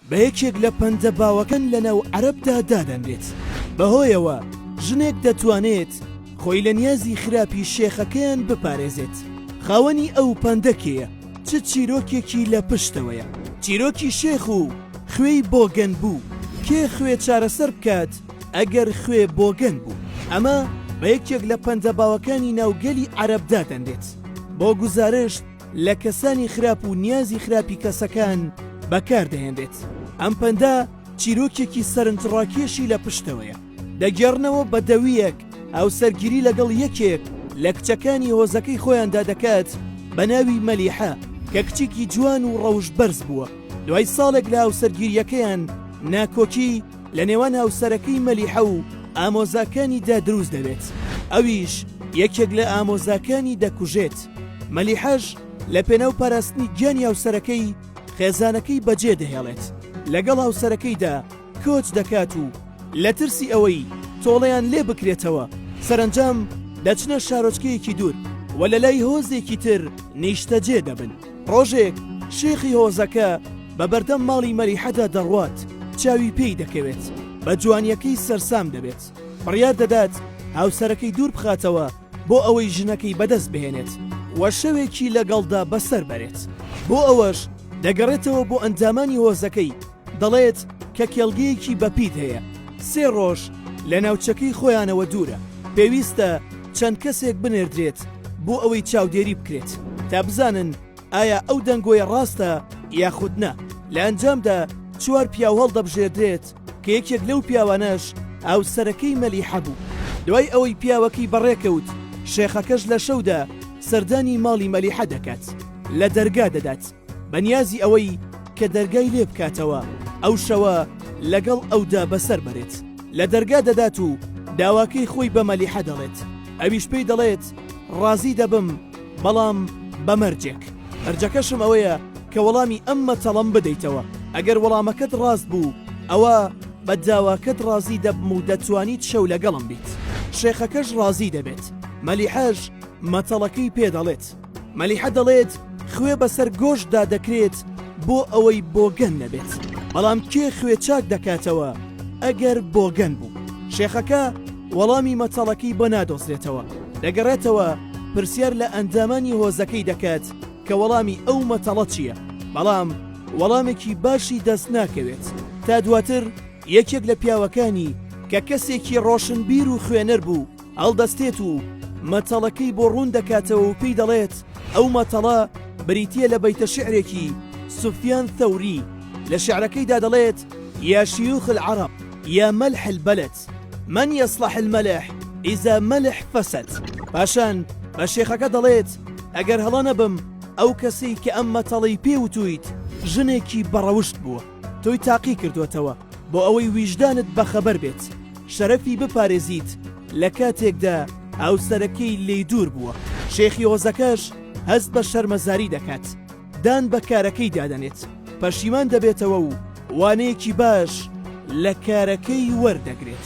بە یەکێک لە پەندە باوەکان لەناو عەرەبدا دادەنرێت، بەهۆیەوە ژنێک دەتوانێت خۆی لە نیازی خراپی شێخەکەیان بپارێزێت، خاوەنی ئەو پەندە کێیە؟ چ چیرۆکێکی لە پشتەوەیە؟ چیرۆکی شێخ و خوێی بۆگەن بوو، کێ خوێ چارەسەر بکات ئەگەر خوێ بۆگەن بوو؟ ئەمە بە یەکێک لە پەندە باوەکانی ناو گەلی عەرەب دادەنرێت، بۆ گوزارشت، لە کەسانی خراپ و نیازی خراپی کەسەکان بەکاردەهێنرێت. ئەم پەندە چیرۆکێکی سەرنجڕاکێشی لە پشتەوەیە. دەگێڕنەوە بە دەویەک هاوسەرگیری لەگەڵ یەکێک لە کچەکانی هۆزەکەی خۆیاندا دەکات بە ناوی مەلیحە کە کچێکی جوان و ڕەوشت بەرز بووە. دوای ساڵێک لە هاوسەرگیرییەکەیان ناکۆکی، لە نێوان هاوسەرەکەی مەلیحە و ئامۆزاکانیدا دروست دەبێت ئەویش یەکێک لە ئامۆزاکانی دەکوژێت مەلیحەش لە پێناو پاراستنی گیانی هاوسەرەکەی خێزانەکەی بەجێ دەهێڵێت لەگەڵ هاوسەرەکەیدا کۆچ دەکات و لە ترسی ئەوەی تۆڵەیان لێ بکرێتەوە سەرەنجام دەچنە شارۆچکەیەکی دوور و لەلای هۆزێکی تر نیشتەجێ دەبن. ڕۆژێک شێخی هۆزەکە بە بەردەم ماڵی مەلیحەدا دەڕوات، چاوی پێی دەکەوێت، بە جوانییەکەی سەرسام دەبێت، بڕیار دەدات هاوسەرەکەی دوور بخاتەوە بۆ ئەوەی ژنەکەی بەدەست بهێنێت و شەوێکی لەگەڵدا بەسەر بەرێت، بۆ ئەوەش دەگەڕێتەوە بۆ ئەندامانی هۆزەکەی، دەڵێت کە کێڵگەیەکی بەپیت هەیە سێ ڕۆژ لە ناوچەکەی خۆیانەوە دوورە، پێویستە چەند کەسێک بنێردرێت بۆ ئەوەی چاودێری بکرێت تا بزانن ئایا ئەو دەنگۆیە ڕاستە یاخود نا، لە ئەنجامدا چوار پیاو هەڵدەبژێردرێت کە یەکێک لەو پیاوانەش هاوسەرەکەی مەلیحە بوو. دوای ئەوەی پیاوەکەی بەڕێکەوت، شێخەکەش لە شەودا سەردانی ماڵی مەلیحە دەکات لە دەرگا دەدات، بەنیازی ئەوەی کە دەرگای لێ بکاتەوە ئەو شەوە لەگەڵ ئەودا بەسەر بەرێت لە دەرگا دەدات و داواکەی خۆی بە مەلیحە دەڵێت ئەویش پێی دەڵێت ڕازی دەبم بەڵام بە مەرجێک مەرجەکەشم ئەوەیە کە وەڵامی ئەم مەتەڵەم بدەیتەوە ئەگەر وەڵامەکەت ڕاست بوو ئەوە بە داواکەت ڕازی دەبم و دەتوانیت شەو لەگەڵم بیت شێخەکەش ڕازی دەبێت مەلیحەش مەتەڵەکەی پێ دەڵێت مەلیحە دەڵێت خوێ بەسەر گۆشتدا دەکرێت بۆ ئەوەی بۆگەن نەبێت بەڵام کێ خوێ چاک دەکاتەوە ئەگەر بۆگەن بوو شێخەکە وەڵامی مەتەڵەکەی بۆ نادۆزرێتەوە دەگەڕێتەوە پرسیار لە ئەندامانی هۆزەکەی دەکات کە وەڵامی ئەو مەتەڵە چییە بەڵام وەڵامێکی باشی دەست ناکەوێت تا دواتر یەکێک لە پیاوەکانی کە کەسێکی ڕۆشنبیر و خوێنەر بوو هەڵدەستێت و مەتەڵەکەی بۆ ڕوون دەکاتەوە و پێی دەڵێت ئەو مەتەڵە بریتە لە بەیتە شعرێکی سوفیان ثەوری لە شعرەکەیدا دەڵێت یا شیوخ العرب یا مەلح البلد من یصلح الملح اذا ملح فسد پاشان بە شێخەکە دەڵێت ئەگەر هەڵە نەبم ئەو کەسەی کە ئەم مەتەڵی پێ وتویت ژنێکی بەڕەوشت بووە. تۆی تاقی کردۆتەوە بۆ ئەوەی ویژدانت بەخەبەر بێت شەرەفی بپارێزیت لە کاتێکدا هاوسەرەکەی لێی دوور بووە شێخی هۆزەکەش هەست بە شەرمەزاری دەکات دان بە کارەکەی دادەنێت پەشیمان دەبێتەوە و وانەیەکی باش لە کارەکەی وەردەگرێت.